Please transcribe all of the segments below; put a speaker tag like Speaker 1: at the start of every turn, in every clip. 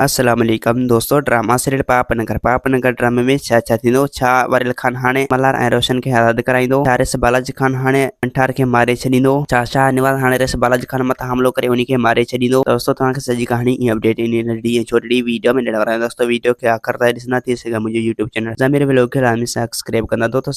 Speaker 1: السلام عليڪم دوستو ڊراما سيريل پاپ نگر پاپ نگر ڊرامي ۾ ڇا ڇا ٿيندو ڇا وريل خان هاڻي ملهار ۽ روشن کي آزاد ڪرائيندو ڇا ريس بالاجي خان هاڻي انٺار کي ماري ڇڏيندو ڇا شاهه نواز هاڻي ريس بالاجي خان مٿان حملو ڪري انهي کي ماري ڇڏيندو دوستو توهان کي سڄي ڪهاڻي ۽ اپڊيٽ انهي ننڍڙي ۽ ڇوٽڙي ويڊيو ۾ ڏيڻ وارا آهيون دوستو ويڊيو کي آخر تائين ڏسندا ٿي سگهي منهنجو يوٽيوب چينل ضمير ولوگ کي لازمي سبسڪرائب ڪندا دوستو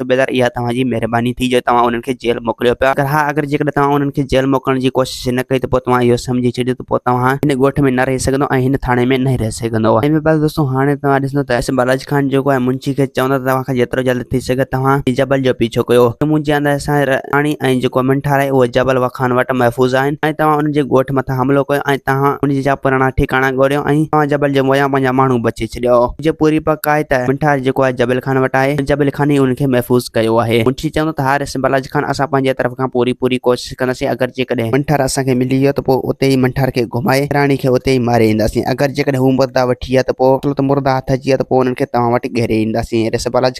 Speaker 1: صوبيدار اها توهان جي مهرباني ٿي جو توهان انهن کي جيل موڪليو پيا اگر ها اگر جيڪڏهن توهان انهن کي جيل موڪلڻ جي ڪوشش نه ڪئي ته پوء توهان اهو سمجهي ڇڏيو ته پوء توهان هن ڳوٺ ۾ نه رهي سگهندو ۽ هن ٿاڻي ۾ نه رهي سگهندو ايم اي بس دوستو هاڻي توهان ڏسندو ته اسم بالاجي خان جيڪو آهي منشي کي چوندا ته توهان کان جيترو جلد ٿي سگهي توهان هي جبل جو پيڇو ڪيو ڪيون مون جي آنداز سان راڻي ۽ جيڪو من ٺاراهي اهي جبل وخان وٽ محفوظ آهن ۽ توهان انهن جي ڳوٺ مٿان حملو ڪيو ۽ توهان انهن جا پراڻا ٺڪاڻا ڳوليو ۽ توهان جبل جي مويان پنهنجا ماڻهو بچي ڇڏيا ڇڏيا. منهنجي پوري پڪ آهي ته منٺار جيڪو آهي جبل خان وٽ آهي ۽ جبل خان ئي ان کي محفوظ ڪيو آهي. منشي چوندو ته ها رئيس بلاج خان اسان پنهنجي طرف کان پوري پوري ڪوشش ڪنداسين اگر جيڪڏهن منٺار اسان کي ملي ويو ته پوء اتي ئي منٺار کي گهمائي راڻي کي اتي ئي ماري اينداسين اگر جيڪڏهن هو مردا وٺي ويا ته پوء مطلب ته مردا هٿ اچي ويا ته پوء انهن کي توهان وٽ گهيري اينداسين. رئيس بلاج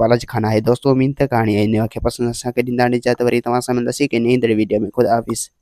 Speaker 1: بالا جي خان آهي دوستو اميد ته ڪهاڻي ۽ نيو کي پسند اسان کي ڏيندا هاڻي اجازت وري توهان سان ملنداسين هڪ نئين ايندڙ ويڊيو ۾ خدا حافظ.